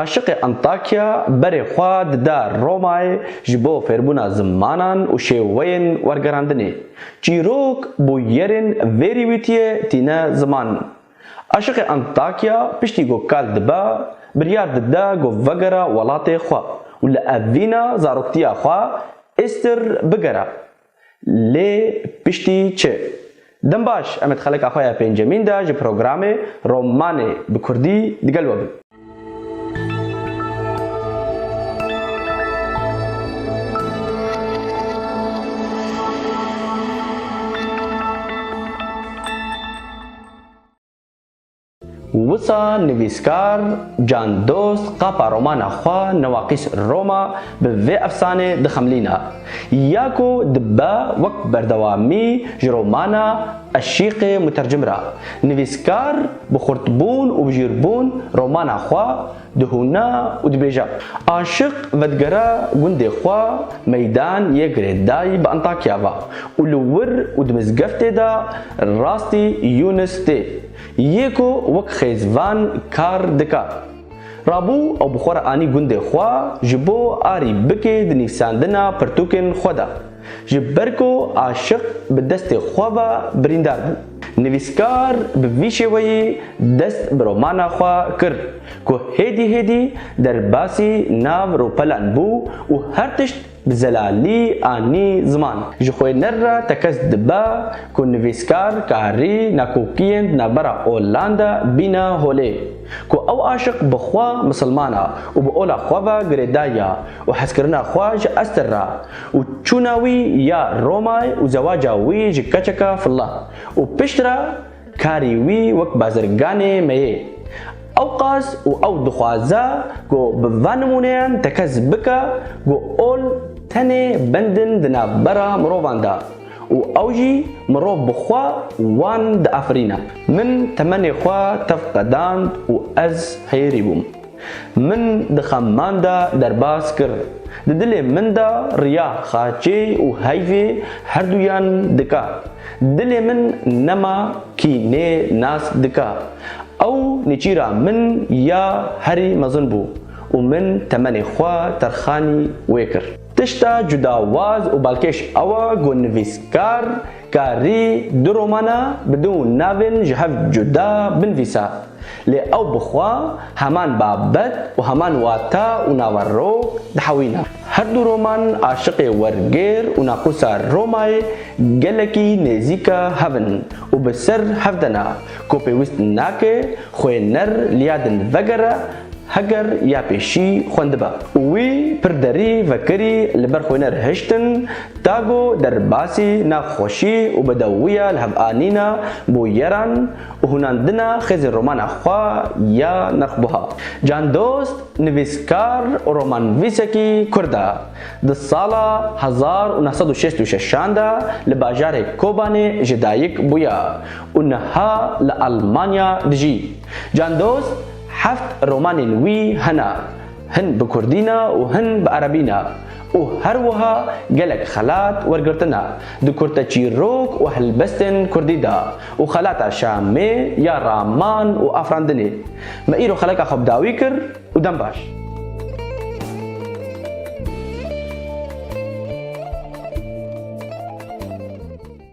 Aşiqê Antakya berê xwe dida Romayê ji bo fêrbûna zimanan û şêweyên wergerandinê. Çîrok bûyerên vê rîwîtiyê tîne ziman. Aşiqê Antakya piştî ku kal dibe, biryar dide ku vegere welatê xwe û li evîna zaroktiya xwe Istir bigere. Lê piştî çi? Dem baş, em ê di xeleka xwe ya pêncemîn de ji programê Romanê bi kurdî digel we bin. Wisa nivîskar Can Dost qapa romana xwe Newaqîs Roma bi vê efsanê dixemlîne. Ya ku dibe wek berdewamî ji romana Eşîqê Mutercim re, nivîskar bi xurtbûn û bijîrbûn romana xwe dihûne û dibêje. Aşiq vedigere gundê xwe Meydan yê girêdayî bi Antakya ve û li wir û di mizgeftê de rastî Yûnis tê Yê ku wek xêz van kar dika. Rabû ew bi xwe re anî gundê xwe ji bo arî bikê di nivîsandina pirtûkên xwe de. Ji ber ku aşiq bi destê xwe ve birîndar bû. Nivîskar bi vî şêweyî dest bi romana xwe kir ku hêdî hêdî derbasî nav ropelan bû û her tişt Bi zelalî anî ziman. Ji xwêner re tekez dibe ku nivîskar karî nakokiyên di navbera olan de bîne holê. Ku ew aşiq bi xwe misilman a û bi ola xwe ve girêdayî ya û hezkirina xwe ji Ester re û çûna wî ya Romay û zewaca wî ji keçeke filla û piştre Karî wî wek bazirganê me yê. Ew qas û ew dixwaze ku bi van nimûneyan tekez bike ku ol tenê bendin di navbera mirovan de û ew jî mirov bi xwe wan diafirîne. Min temenê xwe tev qedand û ez heyirî bûm. Min di xemman de derbas kir. Di dilê min de riya xaçê û heyvê herduyan dika. Dilê min nema kînê nas dika. Ew nêçîra min ya herî mezin bû û min temenê xwe terxanî wê kir. Tişta cudawaz û balkêş ew e ku nivîskar Ka rî du romana bi du navên ji hev cuda binvîsa, lê ew bi xwe heman babet û heman wata û naverok dihewîne. Her du roman aşiqê wergêr û naqûsa Romayê gelekî nêzîka hev in û bi ser hev de ne, ku pêwîst nake xwêner liya din vegere Heger ya pêşî xwendiba û wî pir derî vekirî li ber xwîner hiştin, Tago derbasî nexweşî û bedewiya li hev anîna bûyeran û hûnandina xêzên romana xwe ya nirxbuha. Can Dost nivîskar û romanvîsekî kurd e. Di sala hezar û neh sed û şêst û şeş an de li bajarê Kobanê ji dayik bûye û niha li Elmanya dijî. Can Dost Heft romanên wî hene, hin bi kurdî ne û hin bi erebî ne û her wiha gelek xelat wergirtine di kurteçîrok û helbestên kurdî de û xelata Şamê ya raman û afirandinê me îro xeleka xwe bi dawî kir û dem baş.